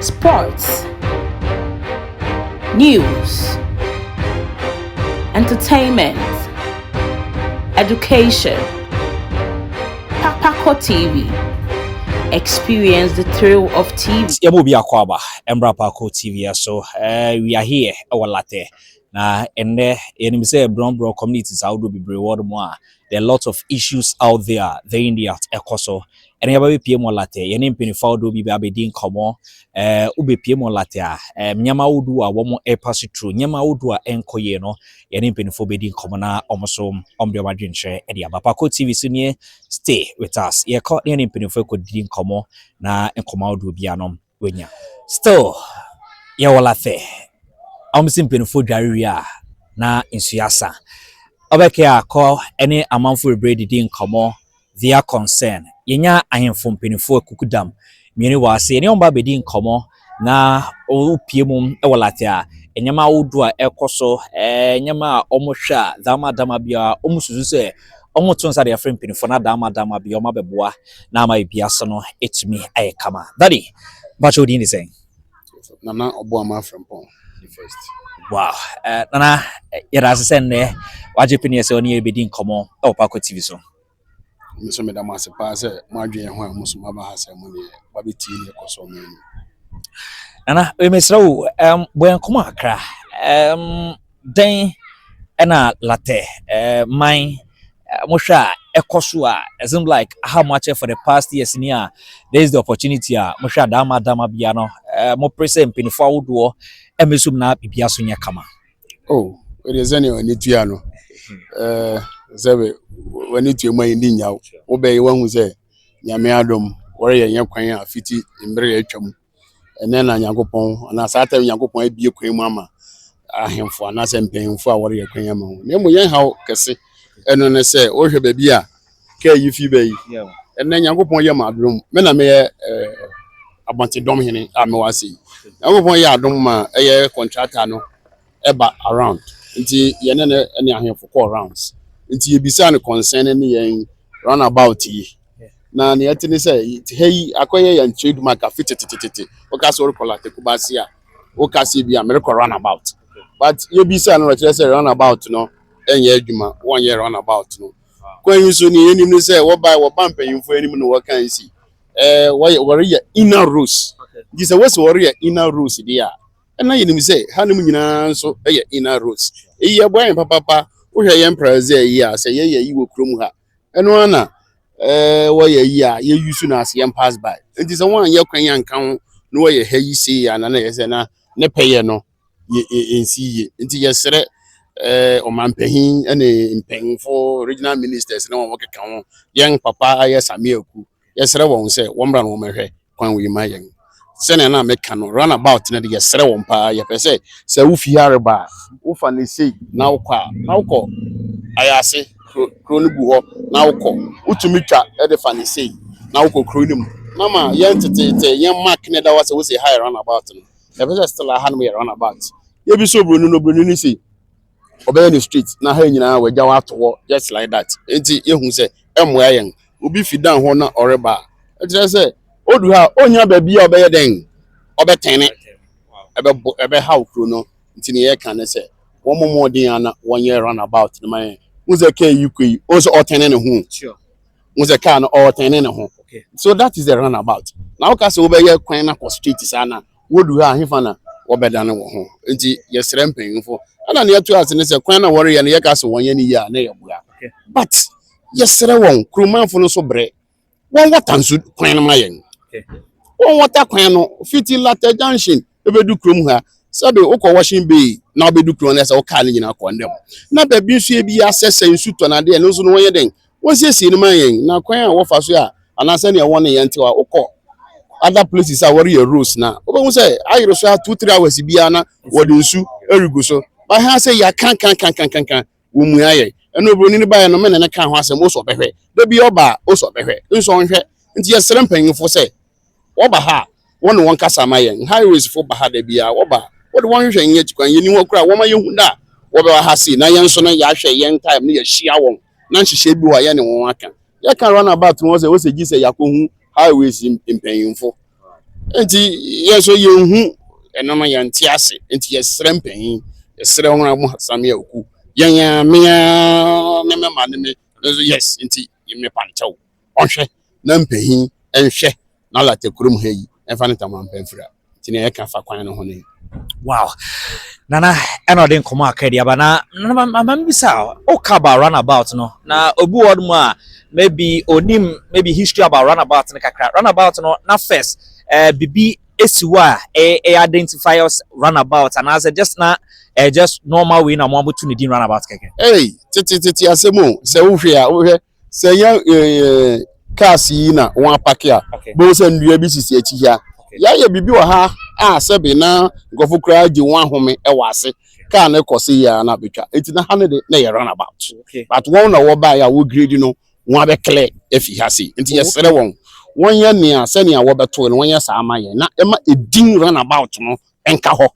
sports, news, entertainment, education. Papakɔ TV. Experience the thrill of TV. Yɛbɔ bi akɔ aba, Mbra Papakɔ TV so. Uh, we are here, ɛwɔ latɛ. Na ɛnnɛ, yɛnim sɛ brɔmbrɔ communities ahodoɔ bebree wɔ no mu a, There are lots of issues out there the in the at ɛkɔ so ɛna yɛba bɛpie mu ɔlatɛ yɛne mpanyinfoɔ ahodoɔ bi bɛ abɛdi nkɔmɔ ɛɛ wobɛpie mu ɔlatɛ a ɛɛ nneɛma ahodoɔ a wɔn ɛrepa so turo nneɛma ahodoɔ a ɛnkɔ yie no yɛne mpanyinfoɔ bɛdi nkɔmɔ na wɔn so wɔn de wɔn adwenkyerɛ ɛde aba Paako TV so nie stay with us yɛkɔ ne yɛne mpanyinfoɔ ɛkɔ didi nkɔmɔ na nkɔmɔ ahodoɔ bi anom. wanya. Still yɛwɔ lafe a wɔn se mpanyinfoɔ dware wie a na nsuo asa. Ɔbɛkɛ a kɔ ɛne amanfo bebree didi nkɔmɔ via concern. Yɛnya ahenfo mpanyinfoɔ akukudam mmienu wɔ ha se yɛne wɔn ba bedi nkɔmɔ na wopie mu wɔ lafe a nneɛma ahodoɔ a ɛkɔ so, nneɛma a wɔhwɛ a dama dama biara wɔn susu sɛ Wɔto nsa de afrɛ mpanyinfoɔ no adaama adaama bia wɔn abɛboa na ama ebi ase no atumi ayɛ kama. Daddy, mpakyɛ wo din de sɛn? Nana Ɔboama Frimpong the first. Wow, uh, Nana, yɛda ase sɛ nnɛ wagye pene sɛ ɔne yɛbɛdi nkɔmmɔ wɔ Pako TV so. Me nso meda mo ase paa sɛ moadwene ho a mo so moaba ha sɛ mo ne wabɛtie ne ɛkɔ so mmienu. Nana, mesrɛ wo, um, bɔ nkɔmmɔ akra. Um, Dɛn na Latte man mohwɛ a ɛkɔ so a it seems like aha mo akyɛ for the past years ni a there is the opportunity a mohwɛ adama adama bia no mopere sɛ mpanyinfo ahodoɔ ɛmɛsum na biribi aso nyɛ kama. Oh, ɛdeɛ sɛnea w'ani tua no sɛ w'ani tua mu ayɛ ndi nyaw wobɛyɛ wahu sɛ nyame adom wɔreyɛ nyɛ kwan a fiti mmerɛ atwa mu. Ɛnnɛ na Nyankopɔn anaa saa tɛm Nyankopɔn abue kwan mu ama ahemfo anaasɛ mpanyimfo a wɔreyɛ kwan ama wɔn. Na mmom yɛn haw kɛse ɛno ne sɛ wohwɛ baabi a kaa yi fi ba yi. Ɛnnɛ Nyankopɔn yɛ ma adom. Me na meyɛ eh, abɔntedɔm hene a mewɔ ase yi. Nyankopɔn yɛ adom ma ɛyɛ kɔntrata no ɛba around nti yɛne no ne ahemfo kɔɔ rounds nti yɛbisaa no concern ne yɛn run about yi na nea ɛte ne sɛ ha yi akɔyɛ yɛn trade mark afe tetetetete woka sɛ worekɔ late kumase a woka sɛ bi a merekɔ run about but yɛbisaa no ɔkyerɛ sɛ run about no ɛnyɛ adwuma wɔnyɛ run about no kwan yi so ne yɛnim ne sɛ wɔba wɔba mpanyimfo anim no wɔka nsi eh, wɔyɛ wɔreyɛ inner rules nti sɛ wɔsi wɔreyɛ inner rules deɛ a na yɛnim sɛ hanom nyinaa nso yɛ inner roads. Eyi ɛboa yɛn papaapa. Wohwɛ yɛn priority a ɛyɛ a sɛ yɛyɛ ayi wɔ kurom ha, ɛno ara na ɛɛ wɔyɛ ayi a yɛ use no as yɛn pass by. Nti sɛ wɔn anyɛ kwan yi anka ho na wɔyɛ ha yi sei a na na yɛ sɛ na ne pɛyɛ no yɛ yɛ nsi yie. Nti yɛsrɛ ɛɛ ɔmanpanyin ne mpanyinfo, regional ministers ne wɔn a wɔkeka ho, yɛn papa ayɛ Samia Aku, yɛsrɛ wɔn sɛ wɔmmra na wɔmmɛhwɛ kwan wei ma yɛn sɛnea na meka no run about no de yɛsrɛ wɔn paa yɛpɛ sɛ sɛ wofi ha reba a wofa ne sei na wokɔ a na wokɔ ayase kuro no gu hɔ na wokɔ wotumi twa de fa ne sei na wokɔ kuro no mu na ma yɛn teteete yɛn mark ne da hɔ sɛ wosɛ ha yɛ run about no yɛpɛ sɛ still aha no yɛ run about yɛbi sɛ obroni no obroni no sei ɔbɛyɛ ne street na ha nyinaa wagya wɔ ato hɔ just like that nti yɛhu sɛ ɛmmoa yɛn obi fi dan hɔ na ɔreba a, ɛkyerɛ sɛ odu ha a, onnya baabi a ɔbɛyɛ dɛn? Ɔbɛtɛne. Ɛbɛbo, ɛbɛhaw kuro no. Nti nea yɛka ne sɛ, wɔmmɔ mmɔden ara na wɔnyɛ runabout no ma yɛn. Wohu sɛ kaa yi kɔ yi, wohu sɛ ɔretɛne ne ho. Wohu sɛ kaa no ɔretɛne ne ho. So that is the runabout. Na woka sɛ wobɛyɛ kwan no akɔ straight saa no a, wodu ha a, hefa na wɔbɛdane wɔn ho? Nti yɛsrɛ mpanyimfo. Ɛna nea ɛto ase ne sɛ, kwan no a wɔreyɛ no, yɛka sɛ wɔnyɛ no yie a, na yɛboa. But. yɛsrɛ wɔn kuromanfo no nso brɛ wɔn wɔta nso kwan no ma yɛn wɔn wɔta kwan no fiti lata junction ebedu kurom ha sɛbi wokɔ washing bay na wobɛdu kurom na ɛsɛ wo kaa no nyinaa kɔ ndɛm na baabi nso ebi asɛ sɛ nsu tɔ na adeɛ no nso no wɔnyɛ dɛn wɔsiesie no ma yɛn na kwan a wɔfa so a anaasɛ nea wɔn ne yɛn te a wokɔ other places a wɔreyɛ roads na wobɛhu sɛ ayere so a two three hours biara na wɔde nsu regu so baha sɛ yɛakankankankankan Wɔmmuaa yɛn. Ɛnna oburoni no baeɛ no, me ne no kaa ho asɛm, ose ɔbɛhwɛ. Da biara ɔba a, ose ɔbɛhwɛ, nso ɔnhwɛ. Enti yɛsrɛ mpanyimfo sɛ wɔba ha a, wɔne wɔn nkasa mma yɛn. Highwaysfo ba ha da biara, wɔba a, wɔde wɔn hwehwɛ yɛn akyi kwan. Yenni hɔ koraa a, wɔma yehu da a wɔbɛba ha sei, na yɛn nso no, yɛahwɛ yɛn time no, yɛahyia wɔn, na nhyehyɛe bi wɔ hɔ a, yɛne wɔn aka. Yɛka runabout no ho sɛ, ose gye sɛ yɛakɔhu Highways mpanyimfo. nti yɛ so yɛnhu ɛno no yɛnte ase nti yɛsrɛ mpanyin yɛsrɛ wɔn a wɔasame akuo yɛn a mea ne me ma ne me nso yes nti mepa nkyɛw ɔhwɛ na mpanyin nhwɛ na lata kurom ha yi ɛmfa ne taman pɛ mfira nti na yɛka fa kwan no ho no yi wow nana ɛna ɔde nkɔmɔ aka di aba na nana ma ma mi bisa o ka about runabout no na obi wɔ mu a maybe onim maybe history about runabout no kakra runabout no na first ɛɛ eh, bibi esi hɔ a ɛyɛ eh, eh, identify us runabout anaasɛ just na ɛyɛ just normal way na wɔn aboto ne din runabout kɛkɛ. ɛy tete tete asɛm o sɛ wohwɛ a wohwɛ sɛ yɛ ɛɛ cars yi na wɔn apake a bɛhu sɛ nnua bi sisi akyi ha yɛayɛ biribi wɔ ha a sɛbe na nkurɔfo koraa gye wɔn ahome wɔ ase kaa no kɔ se yɛ na betwa eti na ha ne de na yɛ run about but wɔn na wɔbaeɛ a wɔgredi no wɔn abɛklɛ afi ha sei nti yɛsrɛ wɔn wɔnyɛ nea sɛnea wɔbɛtoe no wɔnyɛ saa ma yɛn na ɛma edin run about no nka hɔ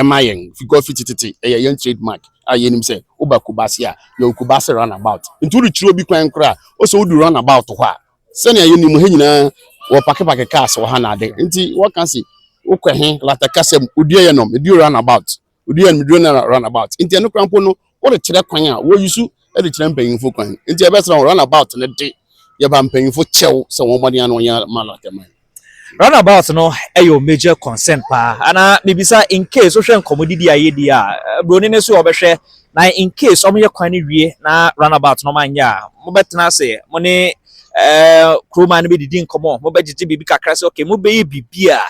ma yɛn because fi tete ɛyɛ yɛn trademark a yɛnim sɛ woba Kumasi a yɛwɔ Kumasi runabout nti worekyerɛ obi kwan koraa ɔsɛ wodu runabout hɔ a sɛnea yɛnim ha nyinaa wɔpakepake cars wɔ ha na ade nti wɔka se wokɔ he latakasɛm oduayɛ nom edu runabout oduayɛ nom edu runabout nti ɛno koraa mpo no Wode kyerɛ kwan a, wɔ use de kyerɛ mpanyimfo kwan. Enti ɛbɛsra wo. Runabout no de, yɛba mpanyimfo kyɛw sɛ wɔn mmɔden ano nyɛ ma late man. Runabout no yɛ wo major concern paa anaa? Mibisa in case wohwɛ nkɔmmɔdidi a yedi a, broni no nso ɔbɛhwɛ. Na in case wɔyɛ kwan no wie na runabout no wɔanyɛ a, mobɛtena ase, mo ne kurow man no bɛdidi nkɔmmɔ, mobɛgyegye biribi kakra sɛ okay, mobɛyɛ biribi a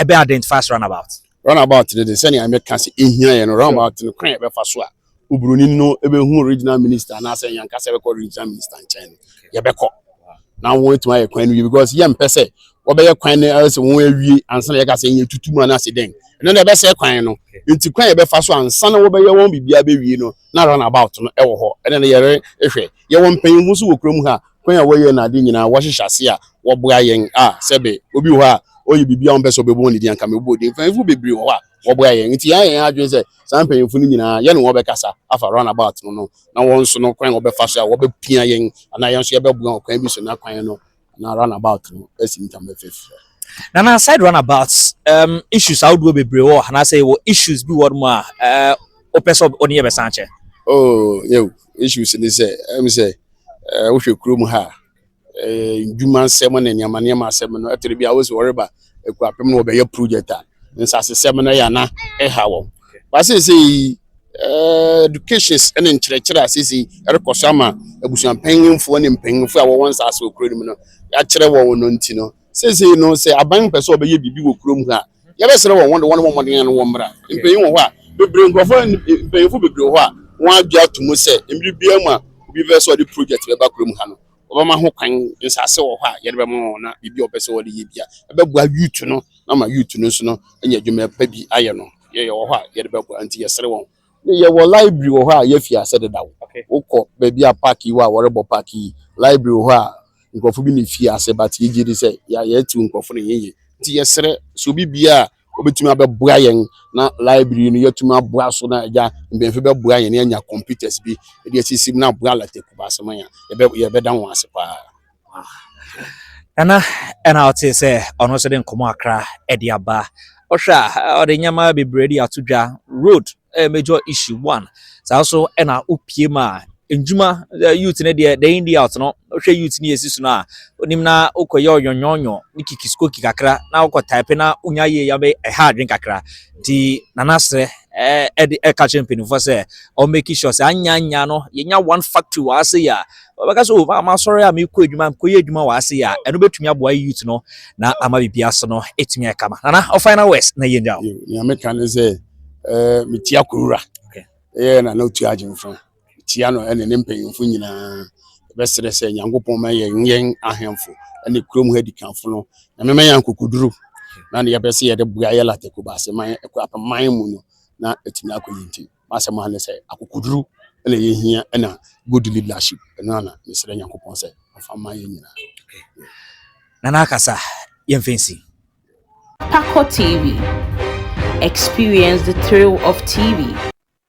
ɛbɛ identify as runabout. runabout no de sɛnea meka sɛ ehia yɛ no runabout no kwan a yɛbɛfa so a oburoni no ebehu regional minister anaasɛ yɛn ankasa yɛbɛkɔ regional minister nkyɛn no yɛbɛkɔ na wɔn etuma yɛ kwan no yie because yɛn mpɛ sɛ wɔbɛyɛ kwan no ɛsɛ wɔn awie ansa na yɛka sɛ yɛn tutu mu anaasɛ dɛn ɛno na ɛbɛsɛ kwan no nti kwan yɛ bɛfa so ansa na wɔbɛyɛ wɔn biribiara bɛwie no na runabout no ɛwɔ hɔ ɛna na yɛre ehwɛ yɛwɔ mpanyinfo nso wɔ kurom ha kwan a wɔyɛ n'ade nyinaa, wɔhyehyɛ ase a wɔboa yɛn a sɛbe obi wɔ hɔ a ɔyɛ biribi a wɔmpɛ sɛ ɔbɛbɔ ne din anka mebɔɔ din. Mpanyimfo bebree wɔ hɔ a wɔboa yɛn. Nti yɛayɛ yɛn adwene sɛ saa mpanyimfo no nyinaa yɛne wɔn bɛkasa afa runabout no no na wɔn nso no kwan a wɔbɛfa so a wɔbɛpia yɛn anaa yɛn nso yɛbɛboa wɔn kwan bi so na kwan no anaa runabout no asi ntama fɛfrɛ. Nana aside runabout um, issues ahodoɔ bebree wɔ hɔ anaasɛ wɔ issues bi wɔ mu a wopɛ sɛ ɔne yɛ bɛsan kyɛ? Oh, yeah, issues ne sɛ ɛm sɛ Eh, wohwɛ kurom ha a, eh, ndwuma nsɛm ne nneɛma nneɛma asɛm no, ɛtere bi a wosi wɔreba akuapem no wɔbɛyɛ project a, nsasesɛm no yɛ ana ɛha wɔn. Ba seesei yi, eh, educations ne nkyerɛkyerɛ a seesei ɛrekɔ so ama abusuampanyimfoɔ ne mpanyimfoɔ a wɔwɔ nsase wɔ kuro no mu no, yɛakyerɛ wɔn no nti no, Seesei no, sɛ aban no pɛ sɛ wɔbɛyɛ biribi wɔ kurom ha a, yɛbɛsrɛ wɔn wɔde wɔn mmɔden ano wɔmmra. Mpanyin wɔ hɔ a bebree, nkurɔfo a mpanyinfo bebree wɔ hɔ a wɔagye ato mu sɛ mmere biara mu a obi bɛpɛ sɛ ɔde project bɛba kurom ha no, wɔbɛma ho kwan. Nsase wɔ hɔ a yɛde bɛma wɔn na biribi a wɔpɛ sɛ wɔde yɛ bi a ɛbɛboa youth no na ama youth no nso no anya adwuma pa bi ayɛ no, yɛwɔ hɔ a yɛde bɛboa. Enti yɛsrɛ wɔn Yɛwɔ library wɔ hɔ a yɛafi ase dedaw. Wokɔ baabi a park yi wɔ a wɔrebɔ park yi, library wɔ hɔ a nkurɔfo bi na efii ase but yegye di sɛ yɛatiw nkurɔfo no yiye. Nti yɛsrɛ sɛ obi biara a obetumi abɛboa yɛn na library yi no yɛatumi aboa so na agya mpanyimfo bɛboa yɛn na yɛanya computers bi de asisi mu na aboa Alata Kumasi man a, yɛbɛda wɔn ase paa. Nana ɛna ɔte sɛ ɔno nso de nkɔmɔ akra ɛde aba ɔhwɛ a ɔde nneɛma bebree de ato dwa road ɛyɛ major issue one saa nso ɛna opie mu a ndwuma youth ne deɛ day in day out no ɔhwɛ youth ne yɛsi so no a onim na okɔyɛ ɔnyɔnyɔnyɔ ne kikiskoki kakra na okɔ type na onya yie ya bɛ ɛha adwen kakra nti nana srɛ ɛde ɛka kyerɛ mpanimfoɔ sɛ ɔmmɛki sure sɛ anyanya no yɛnya one factory wɔ ase yɛ a ɔbɛka sɛ o oh, masɔre a mekɔ adwuma mekɔyɛ adwuma wɔ ase a ɛno bɛtumi aboa youth no na ama biribi ase no ɛtumi ɛkama nana ɔ final west na yɛnya wo nea meka ne sɛ eh, metia kowura ɛyɛ nana ɔtu agyemfa tia no ɛne ne mpanyimfo nyinaa bɛserɛ sɛ nyankopɔn ma yɛ yɛn ahemfo ɛne kurom ha dikanfo no na mema yɛ nkokoduro na ne yɛpɛ sɛ yɛde boa yɛ latakobase man ɛkɔ apaman mu no na ɛtumi akɔ yɛ ntim M'asɛm ara ne sɛ akokoduru na ɛyɛ hia ɛna good leadership. Ɛno ara na mesrɛ Nyankopɔn sɛ ɔmfa mma yɛn nyinaa. Nana akasa yɛmfa nsi. Pakɔ TV, experience the thrill of TV.